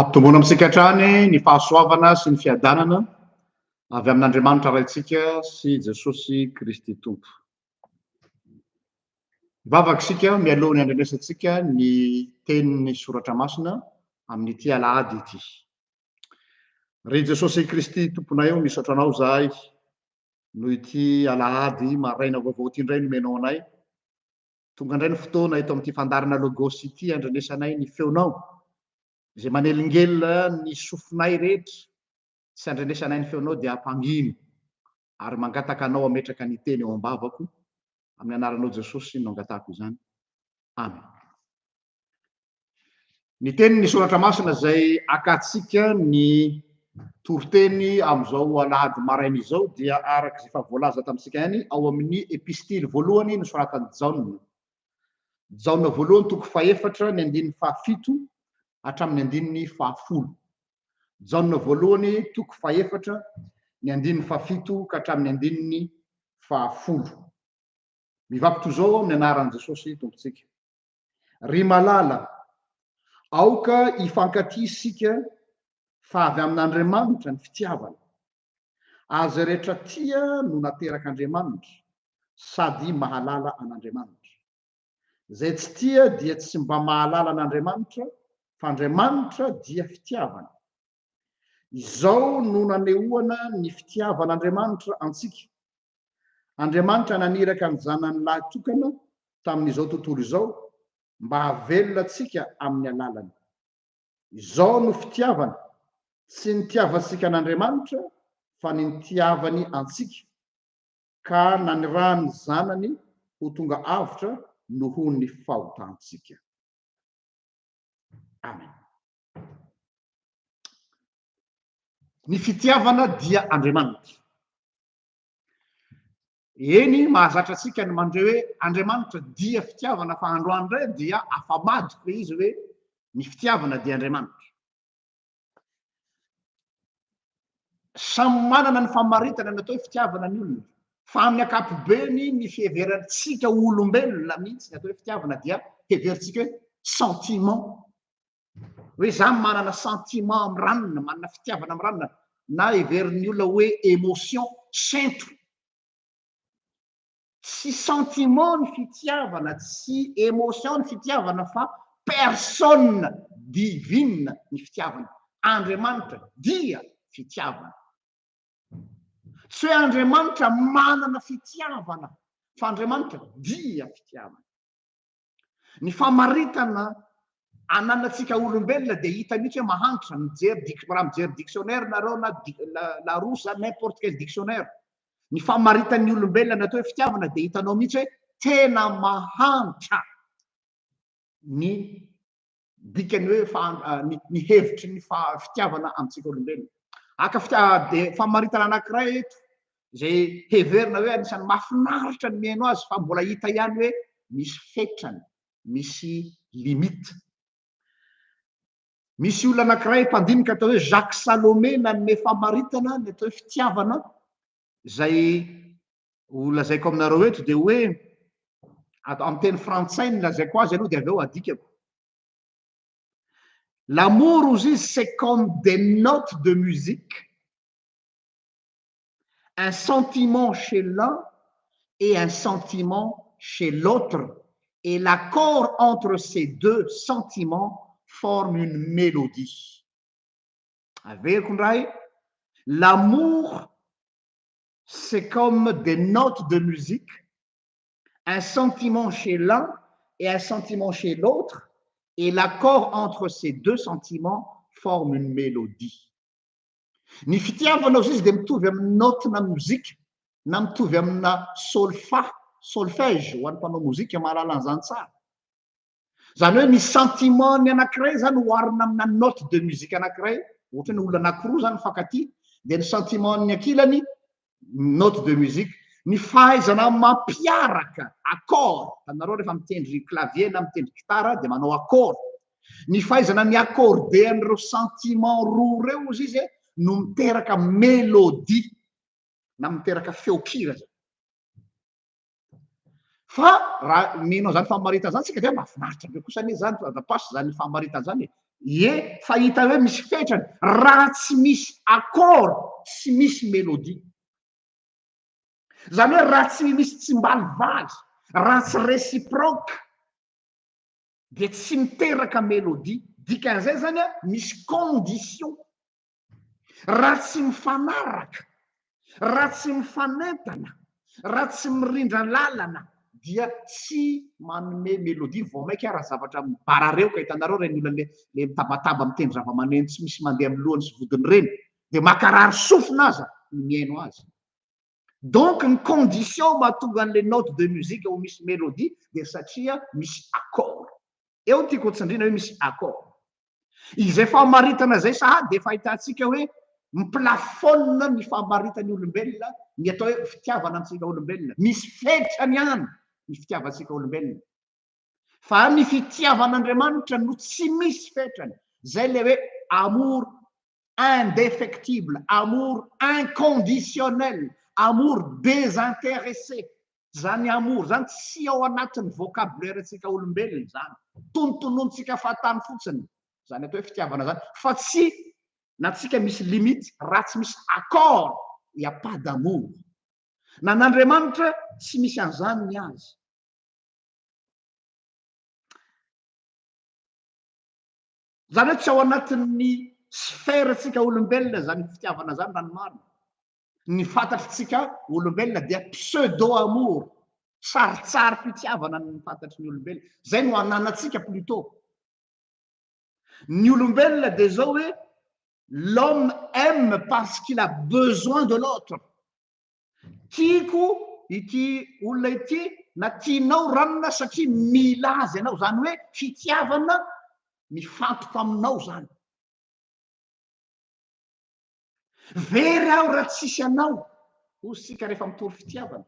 Ampitomboana amintsika hatrany ny fahasoavana sy ny fiadanana avy amin'Andriamanitra Raintsika sy Jesosy Kristy Tompo. Hivavaka isika mialoha ny handrenesantsika ny tenin'ny Soratra Masina amin'ity Alahady ity. Ry Jesosy Kristy Tomponay ô, misaotra Anao izahay noho ity Alahady maraina vaovao ity indray nomenao anay. Tonga indray ny fotoana eto amin'ity fandaharana Logos ity handrenesanay ny feonao, izay manelingelina ny sofinay rehetra sy handrenesanay ny feonao dia hampangino ary mangataka anao hametraka ny teny eo am-bavako, amin'ny anaranao Jesosy no angatahako izany. Amen. Ny tenin'ny soratra masina izay akantsika ny toriteny amin'izao alahady maraina izao dia araka izay efa voalaza tamintsika ihany ao amin'ny epistily voalohany nosoratan'i Jaona. Jaona voalohany toko fahefatra ny andininy fahafito hatramin'ny andininy fahafolo. Jaona voalohany toko fahefatra ny andininy fahafito ka hatramin'ny andininy fahafolo. Mivaky toy izao amin'ny anaran'i Jesosy Tompontsika. Ry malala, aoka hifankatia isika fa avy amin'Andriamanitra ny fitiavana. Azy rehetra tia no naterak'Andriamanitra sady mahalala an'Andriamanitra. Izay tsy tia dia tsy mba mahalala an'Andriamanitra fa Andriamanitra dia fitiavana. Izao no nanehoana ny fitiavan'Andriamanitra antsika, Andriamanitra naniraka ny Zanany lahytokana tamin'izao tontolo izao mba hahavelona antsika amin'ny alalany. Izao no fitiavana, tsy nitiavantsika an'Andriamanitra fa ny nitiavany antsika, ka nanirahany ny Zanany ho tonga avotra nohon'ny fahotantsika. Amen. Ny fitiavana dia Andriamanitra. Eny, mahazatra antsika ny mandre hoe Andriamanitra dia fitiavana, fa androany indray dia afa-madiko ilay izy hoe ny fitiavana dia Andriamanitra. Samy manana ny famaritana ny atao hoe fitiavana ny olona, fa amin'ny ankapobeny ny fiheverantsika olombelona mihitsy ny atao hoe fitiavana dia heverintsika hoe sentiment hoe za manana sentiment amin'ny ranona, manana fitiavana amin'ny ranona na heverin'ny olona hoe émotion, sento. Tsy sentiment ny fitiavana, tsy émotion ny fitiavana fa personne divine ny fitiavana. Andriamanitra dia fitiavana. Tsy hoe Andriamanitra manana fitiavana fa Andriamanitra dia fitiavana. Ny famaritana ananantsika olombelona dia hita mihitsy hoe mahantra, mijery dic- raha mijery dictionnaire nareo na di- la- larousse na n'importe quel dictionnaire, ny famaritan'ny olombelona ny atao hoe fitiavana dia hitanao mihitsy hoe tena mahantra ny dikany hoe fa ny hevitry ny fitiavana amintsika olombelona. Aka fitiavana dia famaritana anankiray eto izay heverina hoe anisan'ny mahafinaritra ny mihaino azy fa mbola hita ihany hoe misy fetrany, misy limite. Misy olona anankiray mpandinika atao hoe Jacques Salomé nanome famaritana ny atao hoe fitiavana izay ho lazaiko aminareo eto dia hoe ato amin'ny teny frantsay ny lazaiko azy aloha dia avy eo adikako l'amour ozy izy c'est comme des notes de musique un sentiment chez l'un et un sentiment chez l'autre et l'accord entre ces deux sentiments forme une mélodie averiko ndray l'amour c'est comme des notes de musique, un sentiment chez l'un et un sentiment chez l'autre et l'accord entre ces deux sentiments forme une mélodie. Ny fitiavanao zay izy dia mitovy amin'ny naotina mozika na mitovy amina solfa, solfège ho an'ny mpanao mozika mahalala an'izany tsara. Izany hoe ny sentiment-ny anankiray izany oharina amina note de musique anankiray, ohatra hoe olona anankiroa izany mifankatia, dia ny sentiment-ny ankilany note de musique. Ny fahaizana mampiaraka accord, hitanareo rehefa mitendry clavier na mitendry gitara dia manao accord. Ny fahaizana mi-accorder an'ireo sentiment roa ireo hozy izy e, no miteraka mélodie na miteraka feon-kira izany. Fa raha mino an'izany famaritana izany isika dia mahafinaritra be kosa anie izany fa andrapaso izany famaritana izany e. Ie, fa hita hoe misy fetrany raha tsy misy accord, tsy misy mélodie. Izany hoe raha tsy misy tsimbalivaly, raha tsy réciproque dia tsy miteraka mélodie. Dikan'izay izany an, misy condition. Raha tsy mifanaraka, raha tsy mifanentana, raha tsy mirindra lalana dia tsy manome melodie, vao mainka ara zavatra mibarareo ka hitanareo ireny olona le le mitabataba mitendry zavamaneno tsy misy mandeha amin'ny lohany sy vodiny ireny dia makarary sofina aza ny mihaino azy. Donc ny condition mahatonga an'ilay note de musique ho misy mélodie dia satria misy accord. Eo tiako hotsindriana hoe misy accord. Izay famaritana izay sahady dia efa ahitantsika hoe mi-plafonne ny famaritan'ny olombelona ny atao hoe fitiavana antsika olombelona. Misy fetrany ihany ny fitiavantsika olombelona. fa ny fitiavan'Andriamanitra no tsy misy fetrany, izay ilay hoe amour indéfectible, amour inconditionnel, amour désintéressé. Izany amour izany tsy ao anatin'ny vocabulaire-ntsika olombelona izany. Tonontononintsika fahatany fotsiny izany atao hoe fitiavana izany, fa tsy na tsika misy limite, raha tsy misy accord, il n'y a pas d'amour. Nan'Andriamanitra tsy misy an'izany ny azy. Izany hoe tsy ao anatin'ny sphère-ntsika olombelona izany fitiavana izany raha ny marina. Ny fantatr'tsika olombelona dia pseudo amour, sarintsarim-pitiavana ny fantatry ny olombelona. Izay no ananantsika plutôt. Ny olombelona dia izao hoe l'homme aime parce qu'il a besoin de l'autre. Tiako ity olona ity na tianao ranona satria mila azy ianao, izany hoe fitiavana mifantoka aminao izany. Very aho raha tsisy anao, hoy isika rehefa mitory fitiavana.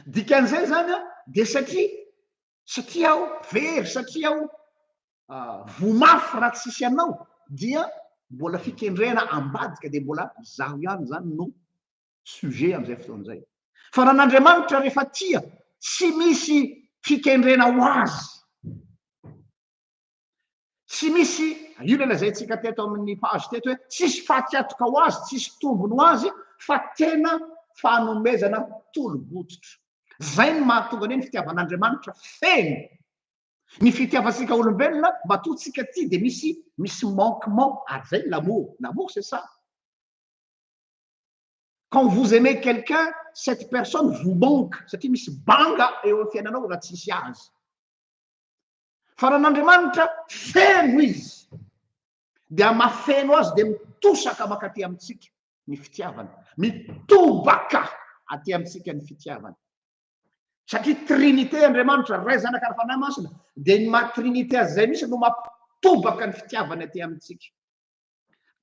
Dikan'izay izany dia satria satria aho very, satria aho voa mafy raha tsisy anao dia mbola fikendrena ambadika dia mbola izaho ihany izany no sujet amin'izay fotoana izay. Fa raha an'Andriamanitra rehefa tia, tsy misy fikendrena ho azy. Tsy misy, io ilay lazaintsika teto amin'ny page teto hoe tsisy fatin-katoka ho azy, tsisy tombony ho azy fa tena fanomezana tolo-bototra. Izay no mahatonga ny fitiavan'Andriamanitra feno. Ny fitiavantsika olombelona matoa tsika tia dia misy misy manquement ary izay ny l'amour, l'amour c'est ça. Quand vous aimez quelqu'un, cette personne vous manque satria misy banga eo amin'ny fiainanao raha tsisy azy. fa raha n'Andriamanitra feno izy dia mafeno azy dia mitosaka makaty amintsika ny fitiavana mitobaka aty amintsika ny fitiavana satria trinité Andriamanitra ray zanaka ary fanahy masina dia ny maha trinité azy izay misy no mampitobaka ny fitiavana aty amintsika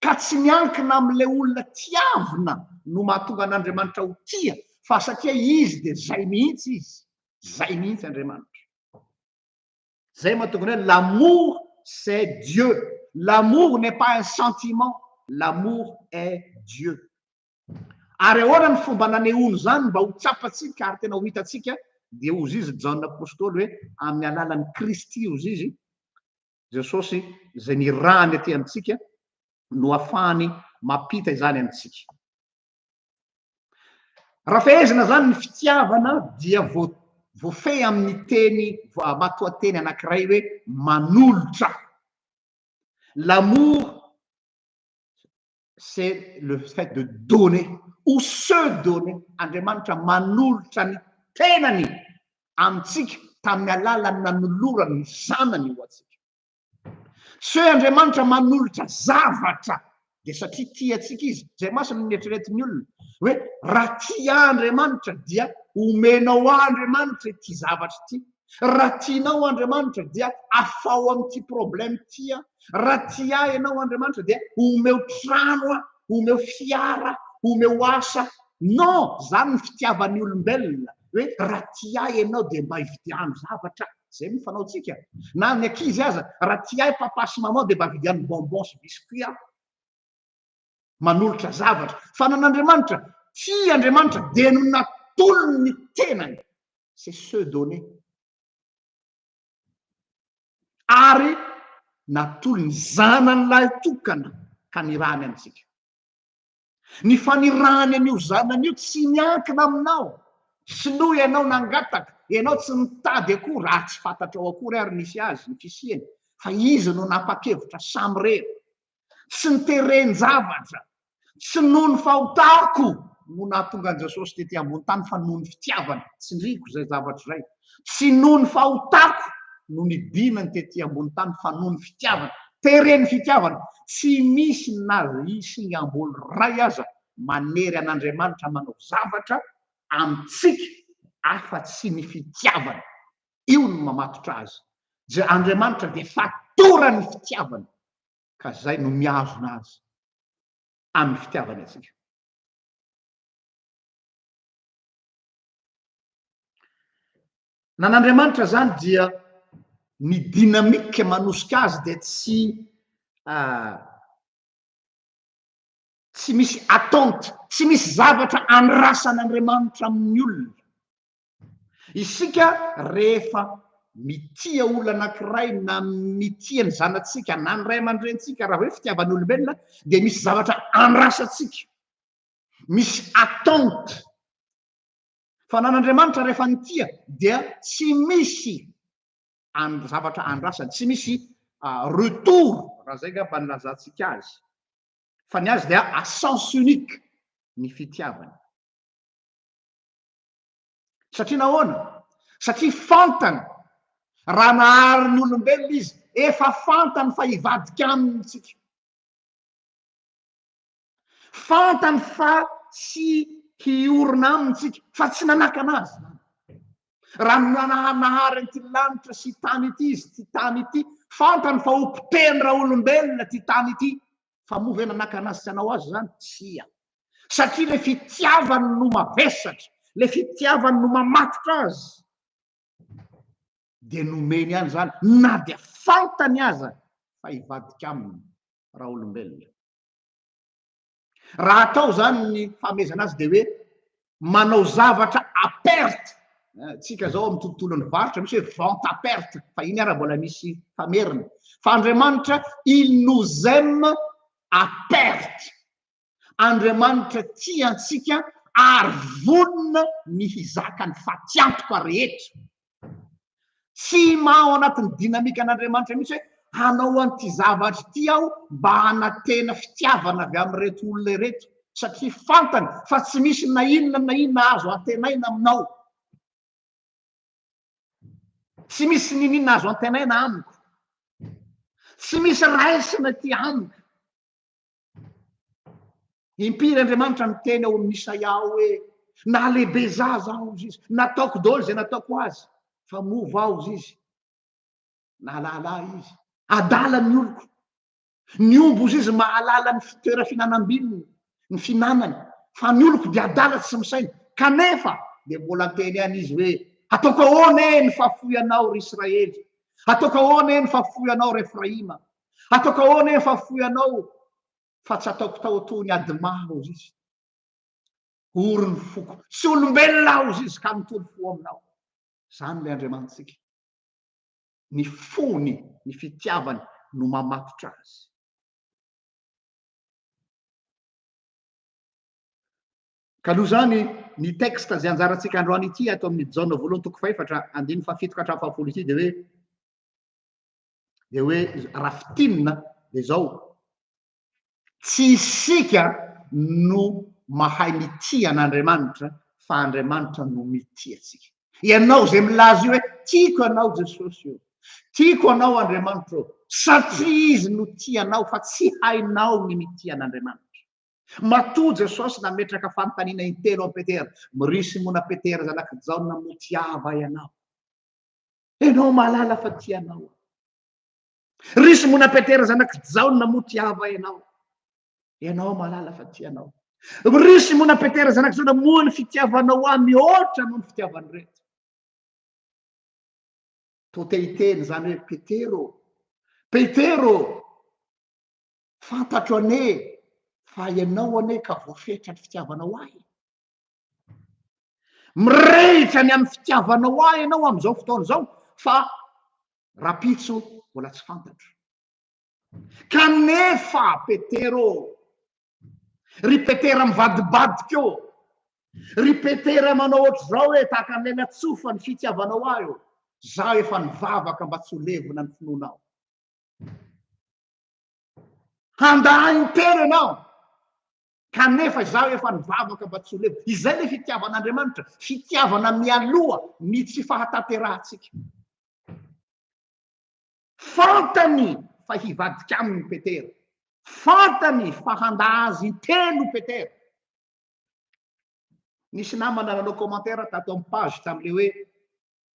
ka tsy miankina amin'le olona tiavina no mahatonga an'Andriamanitra ho tia fa satria izy dia zay mihitsy izy zay mihitsy Andriamanitra Zay mahatonga anao hoe l'amour c'est Dieu. L'amour n'est pas un sentiment, l'amour est Dieu. Ary ahoana ny fomba nanehoany izany mba ho tsapantsika ary tena ho hitantsika? Dia hozy izy Jaona apostoly hoe amin'ny alalan'i Kristy hozy izy, Jesosy izay nirahany aty amintsika no afahany mampita izany amintsika. Raha fehezina izany ny fitiavana dia voafehy amin'ny teny matoanteny anankiray hoe manolotra. L'amour c'est le fait de donner ou se donner. Andriamanitra manolotra ny tenany amintsika tamin'ny alalan'ny nanolorany ny zanany ho antsika. Tsy hoe Andriamanitra manolotra zavatra dia satria tia antsika izy. Izay mantsy no nieritreretin'ny olona hoe raha tia ahy Andriamanitra dia omenao ahy Andriamanitra ity zavatra ity. Raha tianao Andriamanitra dia afaho amin'ity problème ity aho. Raha tia ahy ianao Andriamanitra dia omeo trano aho, omeo fiara, omeo asa. Non, izany ny fitiavan'ny olombelona hoe raha tia ahy ianao dia mba ividiano zavatra. Zay no fanaontsika. Na ny ankizy aza, raha tsy hay papa sy maman dia mba vidianiny bonbon sy biscuit aho. Manolotra zavatra. Fanan'Andriamanitra, tia Andriamanitra dia no natolony ny tenany. C'est se donner. Ary natolony zanany lahy tokana hanirahany antsika. Ny fanirahany an'io zanany io tsy miankina aminao. Sinoa ianao nangataka, ianao tsy nitady akory, raha tsy fantatrao akory ary nisy azy ny fisiany, fa izy no nanapa-kevitra samirery. Tsy ny teren-javatra, tsy noho ny fahotako no nahatonga an'i Jesosy tety ambony tany fa noho ny fitiavany. Tsindriako izay zavatra izay. Tsy noho ny fahotako no nidinany tety ambony tany fa noho ny fitiavany. Teren' ny fitiavany. Tsy misy na isngambol ray aza manery an' Andriamanitra manao zavatra amintsika afa tsy ny fitiavany. Io no mamatotra Azy. Je Andriamanitra dia fatoran' ny fitiavany ka zay no mihazona Azy amin' ny fitiavany antsika. Nan'Andriamanitra izany dia ny dynamique manosika azy dia tsy ah, tsy misy attente, tsy misy zavatra andrasan'Andriamanitra amin'ny olona. Isika rehefa mitia olona anankiray na mitia ny zanatsika na ny ray aman-drentsika raha hoe fitiavan'olombelona dia misy zavatra andrasantsika. misy attente fa nan'Andriamanitra rehefa nitia dia tsy misy an zavatra andrasany tsy misy retour raha zay ngamba ny lazantsika azy fa ny azy dia à sens unique ny fitiavany satria nahoana satria fantany raha nahary ny olombelona izy efa fantany fa hivadika aminy tsika Fantany fa tsy hiorina aminy isika, fa tsy nanakana azy izany. Raha nananahary an'ity lanitra sy tany ity izy, ity tany ity, fantany fa ho potehiny raha olombelona ity tany ity. Fa moa ve nanakana azy tsy hanao azy izany? Tsia. Satria ilay fitiavany no mavesatra, ilay fitiavany no mamatotra azy, dia nomeny ihany izany, na dia fantany aza fa hivadika aminy raha olombelona. Raha atao izany ny fahamezana azy dia hoe manao zavatra à perte. Eh, tsika izao amin'ny tontolon'ny varotra misy hoe vente à perte, fa iny ara mbola misy famerina. Fa Andriamanitra il nous aime à perte. Andriamanitra tia antsika ary vonona ny hizaka ny fatiantoka rehetra. Tsy maha ao anatin'ny dinamikan'Andriamanitra mihitsy hoe hanao an'ity zavatra ity aho mba hanantena fitiavana avy amin'ireto olona ireto, satria fantany fa tsy misy na inona na inona azo antenaina aminao. Tsy misy n'inon'inona azo antenaina amiko. Tsy misy raisina ity amiko. Impiry Andriamanitra miteny ao amin'ny Isaia ao hoe na lehibe zaza aho izy, nataoko daholo izay nataoko azy, fa mova aho izy, nahalala ahy izy, adala ny oloko, ny ombo izy mahalala ny fitoera finanam-bininy, ny finanany, fa ny oloko dia adala tsy misaina, kanefa dia mbola teny any izy hoe ataoko ahoana e ny fafoianao ry Israely, ataoko ahoana e ny fafoianao ry Efraima, Ataoko ahoana ee fa foy anao fa tsy ataoko tao toa ny adma hozy izy. Ory ny foko, tsy olombelona aho hozy izy ka mitory fo aminao. Zany ilay Andriamanitsika. Ny fony, ny fitiavany no mamatotra azy. Ka noho izany, ny texte izay anjarantsika androany ity ato amin'ny Jaona voalohany toko fahefatra andininy fahafito ka hatramin'ny fahafolo ity dia hoe dia hoe raha fitinina dia izao tsy isika no mahay mitia an'Andriamanitra fa Andriamanitra no mitia antsika ianao izay milaza io hoe tiako anao Jesosy io tiako anao Andriamanitra io satria izy no tia anao fa tsy hainao ny mitia an'Andriamanitra Matoa Jesosy nametraka fanontaniana intelo amin'i Petera. Mirisy mona Petera zanak'i Jaona mbotiava ianao. Enao malala fa tia anao. Ry Simona Petera zanak'i Jaona moa tiava enao. Enao malala fa tia anao. Ry Simona Petera zanak'i Jaona moa ny fitiavanao ahy mihoatra noho ny fitiavan'ny rehetra. Toa te hiteny izany hoe Petero. Petero, fantatro anie fa ianao anie ka voafetra ny fitiavanao ahy. Mirehitra ny amin'ny fitiavanao ahy ianao amin'izao fotoana izao fa rapitso mbola tsy fantatro. Kanefa Petera ô, ry Petera mivadibadika ô, ry Petera manao ohatr'izao hoe tahaka an'ilay natsofa ny fitiavanao ahy ô, zaho efa nivavaka mba tsy ho levona ny finoanao. Handà intelo ianao. Kanefa izaho efa nivavaka mba tsy ho leo. Izay ilay fitiavan'Andriamanitra, fitiavana mialoha ny tsy fahatanterahantsika. Fantany fa hivadika aminy i Petera. Fantany fa handà azy intelo i Petera. Nisy namana nanao commentaire tato amin'ny page tamin'ilay hoe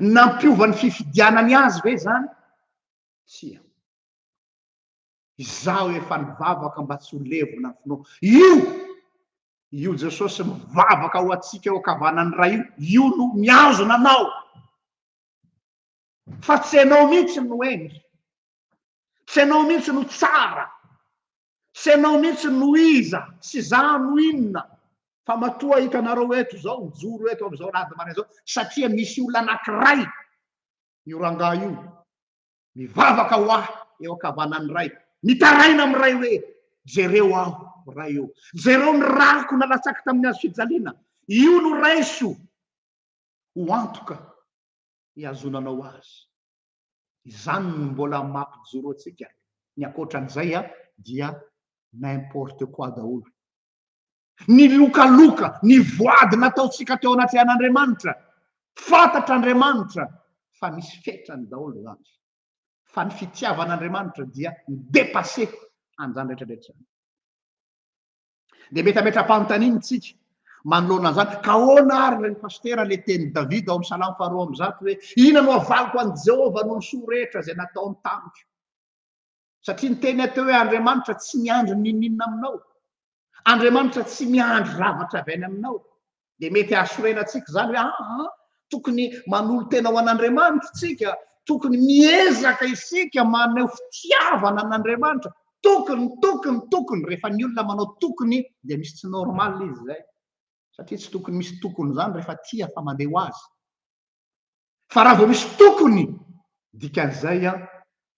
Nampiova ny fifidianany azy ve izany? Tsia. Izaho efa nivavaka mba tsy ho levona ny finoako. Io! Io Jesosy mivavaka ho antsika eo ankavanan'ny Ray io, io no mihazona anao. Fa tsy ianao mihitsy no hendry. tsy ianao mihitsy no tsara tsy ianao mihitsy no iza sy za no inona fa matoa hitanareo eto zao mijoro eto am'izao lady mare zao satria misy olona anakiray io rangah io mivavaka ho ahy eo akavanan'ny ray mitaraina am' ray hoe jereo aho ray eo jereo ny rako nalatsaky tamin'ny azo fijaliana io no raiso ho antoka iazonanao azy izany no mbola mampijoro antsika, ny ankoatran'izay dia n'importe quoi daholo. Ny lokaloka, ny voady nataontsika teo anatrehan'Andriamanitra, fantatr'Andriamanitra fa misy fetrany daholo izany, fa ny fitiavan'Andriamanitra dia mi-depasser an'izany rehetra rehetra izany. Dia mety hametra-panontaniana isika manoloana an'izany, ka ahoana ary ry pasitera ilay tenin'i Davida ao amin'ny salamo faharoa amby zato hoe, Inona no havaliko an'i Jehovah noho ny soa rehetra izay nataony tamiko? Satria ny teny atao hoe Andriamanitra tsy miandry n'inon'inona aminao. Andriamanitra tsy miandry zavatra avy any aminao. dia mety hahasorena antsika izany hoe aa tokony manolo-tena ho an'Andriamanitra isika, tokony miezaka isika maneho fitiavana an'Andriamanitra, tokony, tokony, tokony. Rehefa ny olona manao tokony dia misy tsy normal izy izay, satria tsy tokony misy tokony izany rehefa tia fa mandeha ho azy. Fa raha vao misy tokony, dikan'izay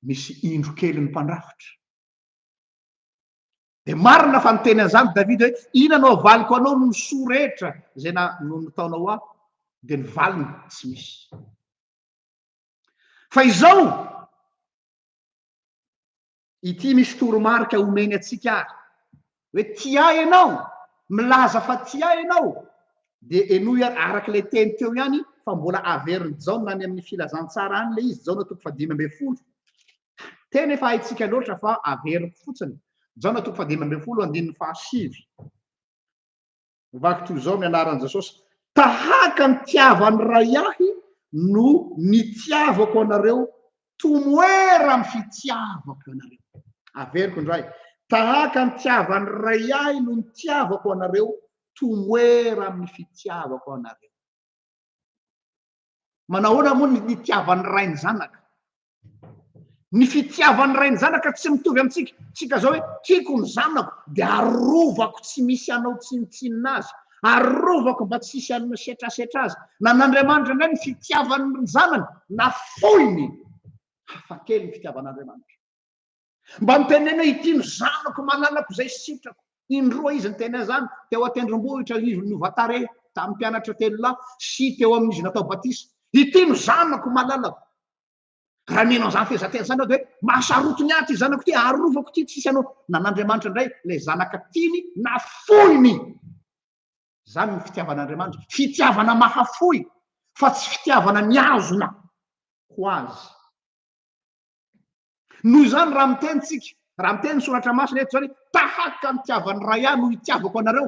misy indro kely ny mpandrafitra. Dia marina fa niteny an'izany Davida hoe, Inona no havaliko anao noho ny soa rehetra izay nataonao ahy? Dia ny valiny, tsy misy. Fa izao, ity misy toromarika omeny antsika ary, hoe tia ahy ianao, milaza fa tia ahy ianao, dia henoy ary araka ilay teny teo ihany fa mbola averin'i Jaona any amin'ny filazantsara any ilay izy, Jaona toko fahadimy ambin'ny folo. Tena efa haintsika loatra fa averiko fotsiny, Jaona toko fahadimy ambin'ny folo andininy fahasivy. Vaky toy izao ny anaran'i Jesosy, Tahaka ny tiavan'ny Ray ahy no nitiavako anareo, tomoera amin'ny fitiavako anareo. Averiko indray, tahaka ny tiavan'ny Ray ahy no nitiavako anareo, tomoera amin'ny fitiavako anareo. Manao ahoana moa ny nitiavan'ny ray ny zanaka? Ny fitiavan'ny ray ny zanaka tsy mitovy amintsika. Tsika izao hoe tiako ny zanako dia arovako tsy misy hanao tsinontsinona azy, arovako mba tsy hisy hanome setrasetra azy. Na an'Andriamanitra indray ny fitiavany ny zanany, na foiny, hafakely ny fitiavan'Andriamanitra. Mba mitenena hoe ity no zanako malalako izay sitrako. Indroa izy niteny an'izany, teo an-tendrombohitra anivon'ny Ovatare, tamin'ny mpianatra telo lahy, sy teo amin'izy natao batisa. Ity no zanako malalako. Raha mino an'izany fehezanteny izany aho dia hoe mahasaroty ny ahy ity zanako ity, arovako ity, tsisy anao. Nan'Andriamanitra indray ilay zanaka tiany na foiny. Izany ny fitiavan'Andriamanitra, fitiavana mahafoy fa tsy fitiavana mihazona ho azy. Noho izany, raha miteny isika, raha miteny ny Soratra Masina eto izany, tahaka ny tiavan'ny Ray ahy no itiavako anareo,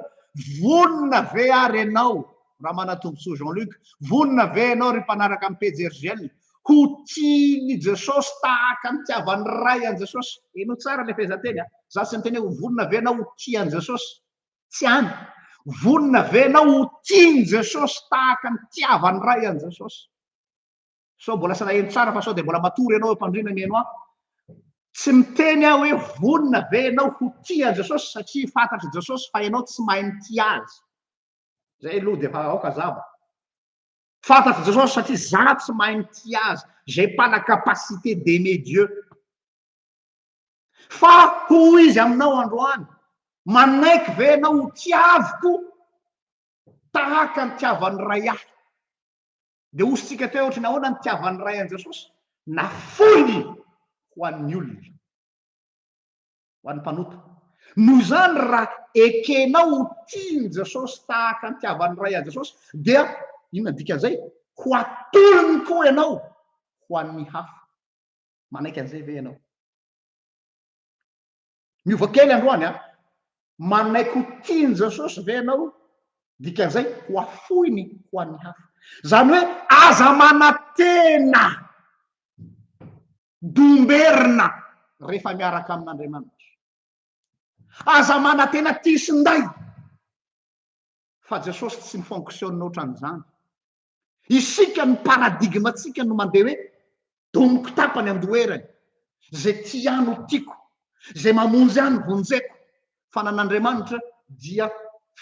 vonona ve ary ianao, Ramanatombontsoa Jean Luc, vonona ve ianao ry mpanaraka an'i Pejy Hergel, ho tian'i Jesosy tahaka ny tiavan'ny Ray an'i Jesosy? Heno tsara ilay fehezanteny an! Izaho tsy miteny hoe vonona ve ianao ho tia an'i Jesosy? Tsy hany! Vonona ve ianao ho tian'i Jesosy tahaka ny tiavan'ny Ray an'i Jesosy? sao mbola salahelo tsara fa sao dia mbola matory ianao eo am-pandriana mihaino ahy. Tsy miteny aho hoe vonona ve ianao ho tia an'i Jesosy satria fantatr'i Jesosy fa ianao tsy mahay mitia azy. Izay aloha dia efa aoka zava. Fantatr'i Jesosy satria za tsy mahay mitia azy. J'ai pas la capacité d'aimer Dieu. Fa hoy izy aminao androany, manaiky ve ianao ho tiaviko tahaka ny tiavan'ny ray ahy? Dia hosintsika teo ohatry ny ahoana ny tiavan'ny Ray an'i Jesosy? Nafoiny ho an'ny olona, ho an'ny mpanota. Noho izany, raha ekenao ho tian'i Jesosy tahaka ny tiavan'ny Ray an'i Jesosy, dia inona ny dikan'izay? Ho atolony koa ianao ho an'ny hafa. Manaiky an'izay ve ianao? Miova kely androany a. Manaiky ho tian'i Jesosy ve ianao? Dikan'izay ho afoiny ho an'ny hafa. Izany hoe aza manantena domberina rehefa miaraka amin'Andriamanitra. Aza manantena tia sy nday fa Jesosy tsy mi-fonctionne ohatran'izany. Isika ny paradigme-ntsika no mandeha hoe doniko tapany an-doherany, izay tia ahy no tiako, izay mamonjy ahy no vonjeko, fa nan'Andriamanitra dia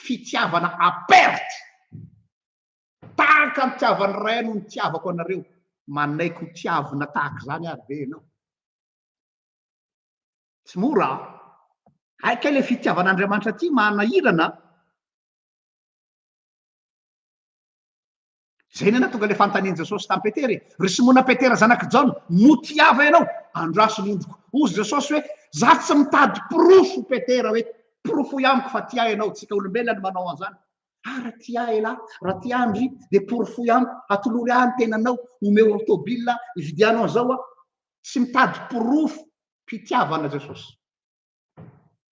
fitiavana à perte. Tahaka ny tiavan'ny Ray no nitiavako anareo, manaiky ho tiavina tahaka izany ary ve ianao? Tsy mora an! Hay kay ilay fitiavan'Andriamanitra ity manahirana an! Izay ny nahatonga ilay fanontanian'i Jesosy tamin'i Petera e. Ry Simona Petera zanak'i Jaona, moa tia Ava ianao? Andraso ny ondriko. Hoy Jesosy hoe, Izaho tsy mitady porofo, Petera, hoe porofoy amiko fa tia ahy ianao. Tsika olombelona no manao an'izany. Ah, raha tia ahy ialahy, raha tia ahy ndry, dia porofoy amiko, atolory ahy ny tenanao, omeo aho tôbila, ividiano an'izao aho. Tsy mitady porofo pitiavana Jesosy.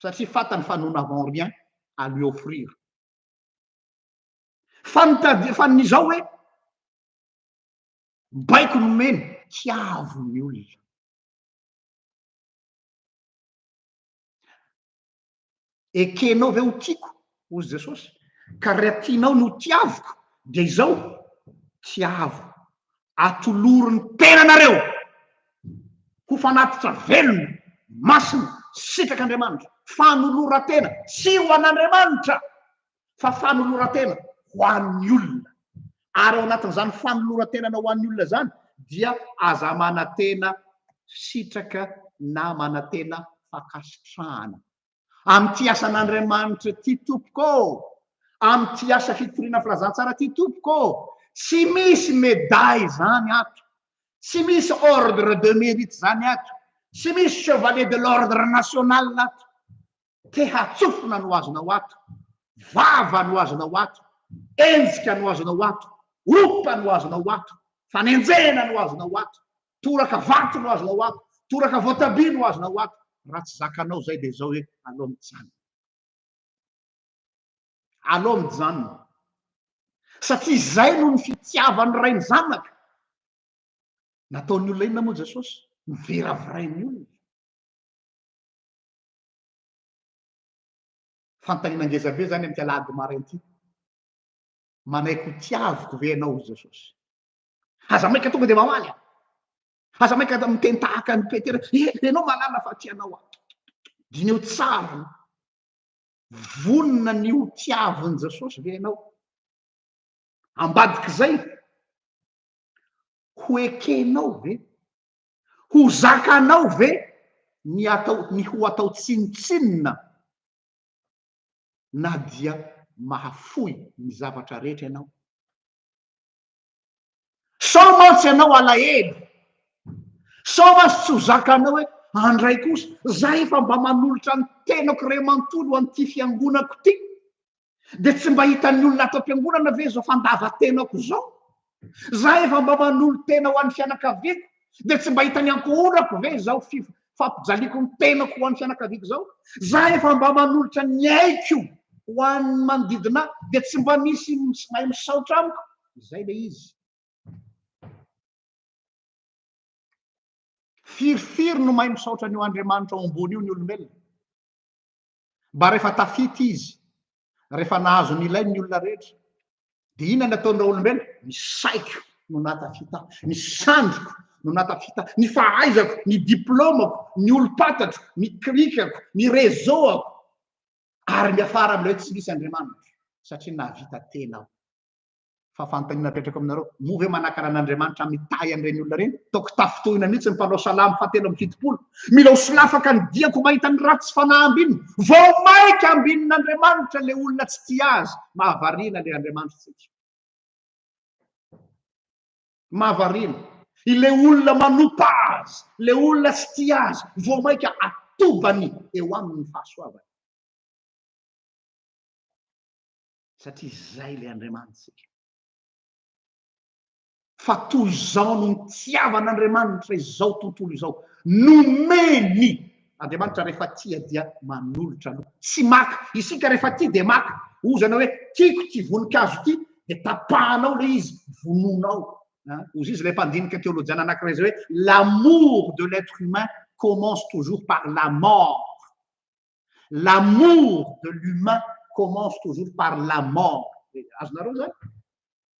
Satria fantany fa nous n'avons rien à lui offrir. fa nitadiafany ny zao hoe baiko nomeny hiavo ny olona ekenao ve ho tiako hozy jesosy ka ry atianao no tiaviko dia izao tiavo atoloro ny tena nareo ho fanatitra velona masina sitrak'andriamanitra fanoloratena tsy ho an'andriamanitra fa fanoloran-tena ho an'ny olona. Ary ao anatin'izany fanoloran-tenanao ho an'ny olona izany dia aza manantena sitraka na manantena fankasitrahana. Amin'ity asan'Andriamanitra ity tompoko ô! Amin'ity asa fitoriana filazantsara ity tompoko ô! Tsy misy medaille izany ato. Tsy misy ordre de mérite izany ato. Tsy misy chevalier de l'ordre national ato. Te hatsofina no azonao ato, vava no azonao ato, enjika no azonao ato, opa no azonao ato, fanenjehina no azonao ato, toraka vato no azonao ato, toraka voatabia no azonao ato, raha tsy zakanao izay dia izao hoe alao mijanona. Alao mijanona. Satria izay no ny fitiavan'ny Ray ny zanaka. Nataon'ny olona inona moa Jesosy? Noviravirain'ny olona. Fanontaniana ngeza be izany amin'ity alahady maraina ity. Manaiky ho tiaviko ve ianao i Jesosy? Aza maika tonga dia mamaly aho. Aza maika da miteny tahaka an'i Petera, eh, ianao mahalala fa tianao aho. Dineho tsara aloha. Vonona ny ho tiavin'i Jesosy ve ianao? Ambadik'izay, ho ekenao ve Ho zakanao ve ny atao ny ho atao tsinontsinona na dia mahafoy ny zavatra rehetra ianao? Sao mantsy ianao alahelo? Sao mantsy tsy ho zakanao hoe andray kosa za efa mba manolotra ny tenako iray manontolo ho an'ity fiangonako ity? Dia tsy mba hitan'ny olona ato am-piangonana ve izao fandavan-tenako izao? Za efa mba manolo-tena ho an'ny fianakaviako, dia tsy mba hitan'ny ankohonako ve izao fif- fampijaliako ny tenako ho an'ny fianakaviako izao? Za efa mba manolotra ny aiko ho an'ny manodidina ahy, dia tsy mba misy mis- mahay misaotra amiko? Izay ilay izy. Firifiry no mahay misaotra an'io Andriamanitra ao ambony io ny olombelona? Mba rehefa tafita izy, rehefa nahazo ny ilainy ny olona rehetra, dia inona ny ataon'ny raolombelona? Ny saiko no nahatafita ahy, ny sandriko no nahatafita ahy, ny fahaizako, ny diplaomako, ny olom-patatro, ny klikako, ny reseau-ako, ary miafara amin'ilay hoe tsy misy Andriamanitra, satria nahavita tena aho. fa fanontaniana apetrako aminareo, moa ve manakana an'Andriamanitra mitahy an'ireny olona ireny? Toa kitafotohina mihitsy ny mpanao salamo fahatelo amby fitopolo. Mila ho solafaka ny diako mahita ny ratsy fanahy ambinina. Vao maika ambinin'Andriamanitra ilay olona tsy tia azy. Mahavariana ilay Andriamanitrantsika. Mahavariana. Ilay olona manopa azy, ilay olona tsy tia azy, vao maika atobany eo aminy ny fahasoavany. satria izay ilay Andriamanitsika. Fa toy izao no nitiavan'Andriamanitra izao tontolo izao, nomeny Andriamanitra rehefa tia dia manolotra aloha, tsy maka, isika rehefa tia dia maka, ozana hoe tiako ity voninkazo ity dia tapahanao ilay izy, vonoanao. Ozy izy ilay mpandinika teolojiana anankiray izay hoe l'amour de l'être humain commence toujours par la mort. L'amour de l'humain commence toujours par la mort. Azonareo zany?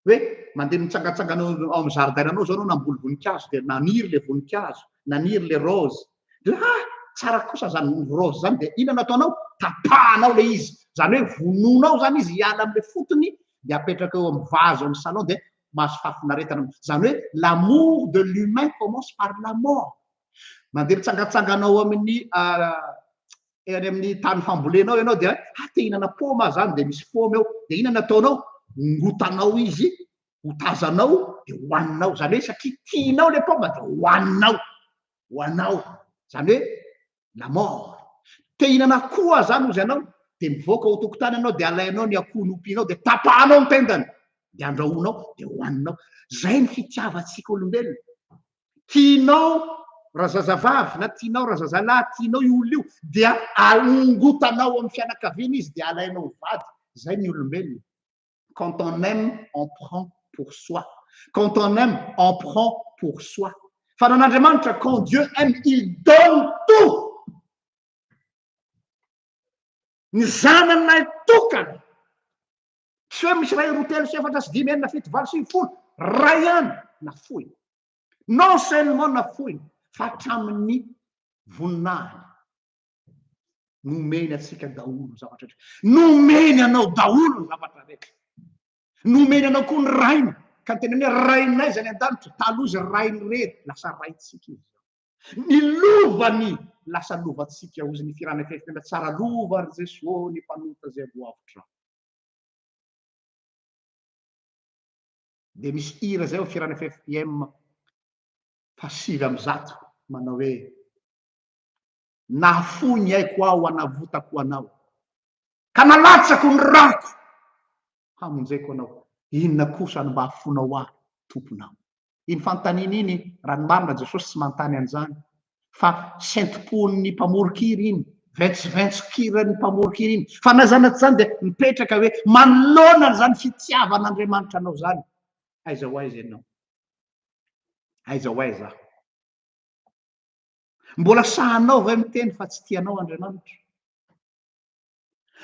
Hoe mandeha mitsangatsangana ao amin'ny amin'ny zaridainanao zao anao namboly voninkazo dia naniry le voninkazo, naniry le rose. Dia hoe ah tsara kosa zany rose zany dia inona no ataonao? Tapahanao le izy. Zany hoe vonoinao zany izy hiala am'le fotony dia apetraka eo amin'ny vazo ao amin'ny salon dia mahazo fahafinaretana. Zany hoe l'amour de l'humain commence par la mort. Mandeha mitsangatsangana ao amin'ny any amin'ny tany fambolenao ianao dia ah te hinana paoma aho zany dia misy paoma eo dia inona no ataonao ngotanao izy hotazanao dia hohaninao zany hoe satria tianao le paoma dia hohaninao ho anao zany hoe la mort te hinana akoho aho zany ozy anao dia mivoaka ho tokotany anao dia alainao ny akoho nompianao dia tapahanao ny tendany dia andrahoinao dia hohaninao zay ny fitiavantsika olombelona tianao razazavavy na tianao razazalahy, tianao io olona io, dia aongotanao amin'ny fianakaviana izy dia alainao ho vady. Izay ny olombelona. Quand on aime, on prend pour soi. Quand on aime, on prend pour soi. Fa nan'Andriamanitra, quand Dieu aime, il donne tout. Ny zanan'ilay tokana Tsy hoe misy iray, roa, telo, sy efatra, sy dimy, enina, fito, valo, sivy, folo. Iray ihany nafoiny. Non seulement nafoiny fa hatramin'ny voninahiny. Nomeny antsika daholo ny zavatra rehetra. Nomeny anao daholo ny zavatra rehetra. Nomeny anao koa ny rainy. Ka ny tena hoe rainay izay any an-danitra, taloha izy rain'irery, lasa raintsika izy. Ny lovany lasa lovantsika hozy ny firana kely tena tsara lova ry Jeso ô ny mpanota zay voavotra. Dia misy hira zay ao firana ffpm fahasivy amby zato manao hoe nahafoy ny aiko aho hanavotako anao ka nalatsako ny rako hamonjeko anao. Inona kosa no mba afoanao ahy, Tomponao? Iny fanontaniana iny, raha ny marina, Jesosy tsy manontany an'izany, fa sento-pon'ny mpamoron-kira iny, ventsoventson-kiran'ny mpamoron-kira iny. Fa na izany na tsy izany, dia mipetraka hoe, Manoloana an'izany fitiavan'Andriamanitra anao izany, aiza ho aiza ianao? Aiza ho aiza aho? Mbola sahanao ve miteny fa tsy tianao Andriamanitra?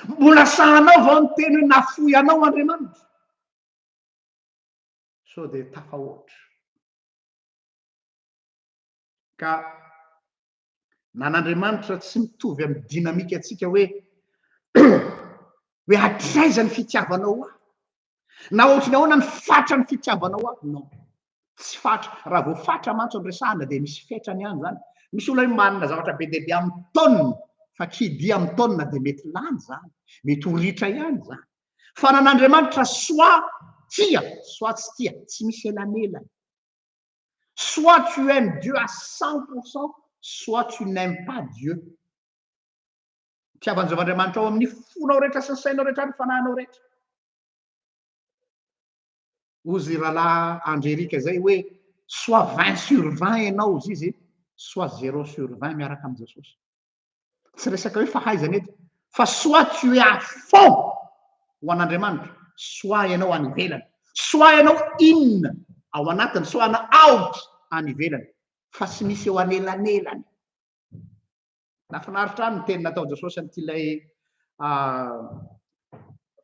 Mbola sahanao vao ny teny hoe nafoy anao Andriamanitra? Sao dia tafahoatra. Ka nan'Andriamanitra tsy mitovy amin'ny dinamika antsika hoe hoe hatraiza ny fitiavanao ahy? Na ohatry ny ahoana ny fatra ny fitiavanao ahy? Non. Tsy fatra. Raha vao fatra mantsy no resahana dia misy fetrany ihany izany. Misy olona hoe manana zavatra be dia be amin'ny taonina, fa kidia amin'ny taonina dia mety lany izany, mety ho ritra ihany izany. Fanan'Andriamanitra soa tia, soa tsy tia, tsy misy elanelana. Soit tu aimes Dieu à 100%, soit tu n'aimes pas Dieu. Fitiavan'i Jehovah Andriamanitra ao amin'ny fonao rehetra sy ny sainao rehetra ary ny fanahinao rehetra. Hozy i rahalahy Andrerika izay hoe soit 20 sur 20 ianao hozy izy, soit 0 sur 20 miaraka amin'i Jesosy. Tsy resaka hoe fahaizana eto, fa soit tu es à fond ho an'Andriamanitra, soit ianao any ivelany, soit ianao in ao anatiny, soit ianao out any ivelany, fa tsy misy eo anelanelany. Nafinaritra ahy ny teny nataon'i Jesosy an'ity ilay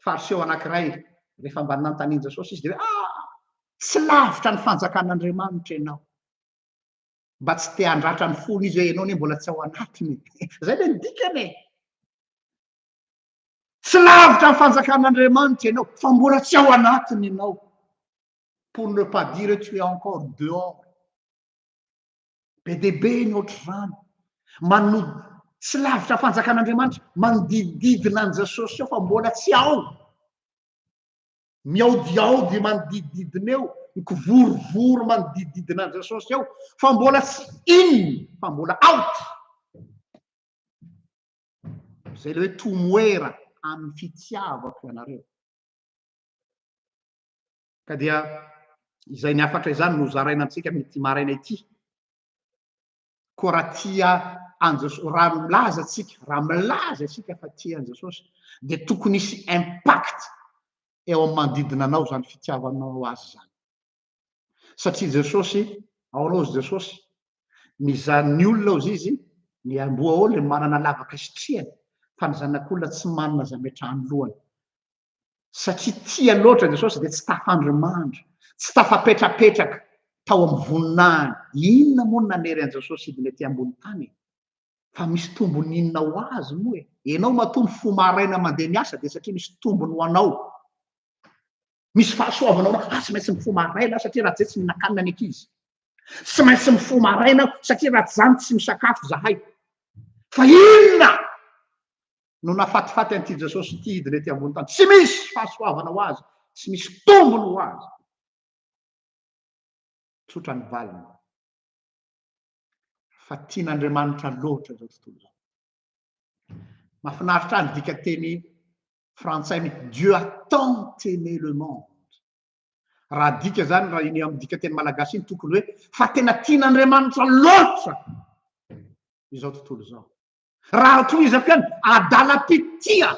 Fariseo anankiray rehefa mba nanontanian'i Jesosy izy dia hoe ah tsy lavitra ny fanjakan'Andriamanitra ianao. Mba tsy te handratra ny fony izy hoe ianao anie mbola tsy ao anatiny. Izay ilay dikany e. Tsy lavitra ny fanjakan'Andriamanitra ianao fa mbola tsy ao anatiny ianao. Pour ne pas dire tu es encore dehors. Be dia be ny ohatr'izany. Mano- tsy lavitra fanjakan'Andriamanitra, manodidididina an'i Jesosy eo fa mbola tsy ao. Mihaodihaody manodidididina eo, mikovorovoro manodidididina an'i Jesosy eo fa mbola tsy in fa mbola out. Izay le hoe tomoera amin'ny fitiavako ianareo. Ka dia izay ny hafatra izany no zaraina amintsika amin'ity maraina ity. Koa raha tia an'Jesosy, raha milaza antsika, raha milaza isika fa tia an'Jesosy, dia tokony hisy impact eo amin'ny manodidina anao izany fitiavanao azy izany. Satria Jesosy, ao aloha izy Jesosy, ny zan'ny olona ozy izy, ny amboa ao le manana lavaka sitrihany, fa ny zanak'olona tsy manana zametrahany lohany. satria tia loatra Jesosy dia tsy tafandrimandry, tsy tafapetrapetraka tao amin'ny voninahiny. Inona moa no nanery an'i Jesosy hidina ety ambony tany e? Fa misy tombony inona ho azy moa e? Ianao matoa mifoha maraina mandeha miasa dia satria misy tombony ho anao. Misy fahasoavana ho anao. Ah, tsy maintsy mifoha maraina satria raha tsy izay tsy mihinan-kanina ny ankizy. Tsy maintsy mifoha maraina satria raha tsy izany tsy misakafo izahay. Fa inona no nafatifaty an'ity Jesosy ity hidina ety ambony tany. Tsy misy fahasoavana ho azy, tsy misy tombony ho azy. Tsotra ny valiny fa tian'Andriamanitra loatra izao tontolo izao. Mahafinaritra ahy ny dikateny frantsay ny Dieu a tant aimé le monde. Raha dika izany raha iny amin'ny dikateny malagasy iny tokony hoe fa tena tian'Andriamanitra loatra izao tontolo izao. Raha tohizako ihany, adalam-pitia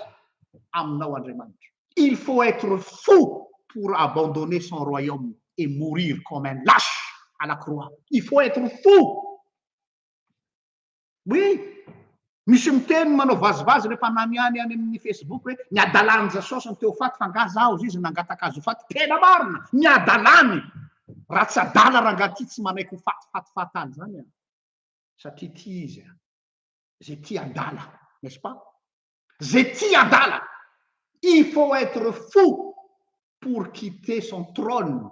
aminao Andriamanitra. Il faut être fou pour abandonner son royaume et mourir comme un lâche à la croix. Il faut être fou! Oui! Misy miteny manao vazivazy rehefa ananiany any amin'ny Facebook hoe ny adalan'i Jesosy ny teo faty fa angaha zaho hozy izy nangataka azy ho faty. Tena marina! Ny adalany! Raha tsy adala rangahy ity tsy manaiky ho faty faty fatal zany an! Satria tia izy an! zay tia adala n'est ce pas? zay tia adala il faut etre fou pour quitter son trône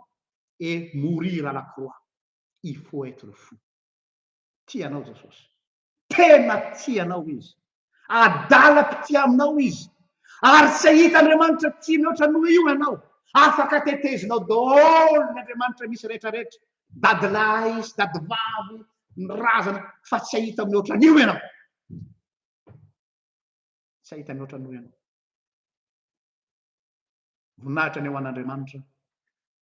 et mourir à la croix il faut etre fou tia anao Jesosy tena tia anao izy adala mpitia aminao izy ary tsy hahita Andriamanitra tia mihoatra noho io ianao afaka tetezinao daholo ny Andriamanitra misy rehetra rehetra dadilahy sy dadivavy ny razana fa tsy hahita mihoatra an'io ianao tsy hahita mihoatra an'io ianao voninahitra ny ho an'Andriamanitra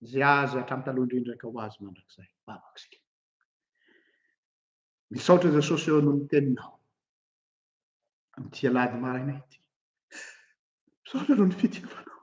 izay azy hatramin'ny taloha indrindra ka ho azy mandrakizay vavak'isika misaotra Jesosy eo noho ny teninao amin'ity alahady maraina ity misaotra noho ny fitiavanao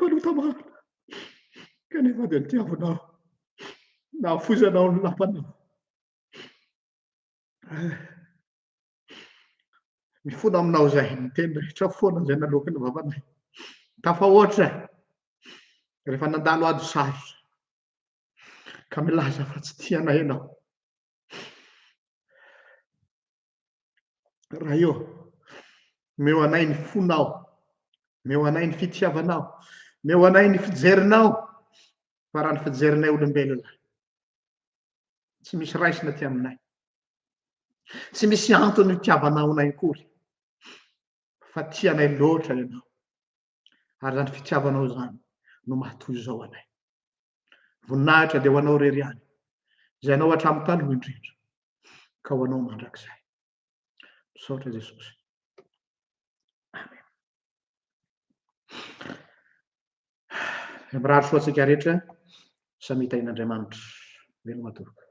mpanota marina, kanefa dia nitiavanao nahafoizanao ny lapanao. Eh, mifona aminao izay ny teny rehetra foana izay naloaky ny vavanay. Tafahoatra rehefa nandalo ady sarotra ka milaza fa tsy tianay ianao. Ray ô, omeo anay ny fonao, omeo anay ny fitiavanao, omeo anay ny fijerinao, fa raha ny fijerinay olombelona, tsy misy raisina ty aminay, tsy misy antony itiavanao anay akory, fa tianay loatra ianao. Ary izany fitiavanao izany no maha toy izao anay. Voninahitra dia ho anao irery ihany, izay anao hatramin'ny taloha indrindra, ka ho anao mandrakizay. Misaotra Jesosy. Amen. Mirary soa antsika rehetra samy hitahian'Andriamanitra. Veloma tompoko.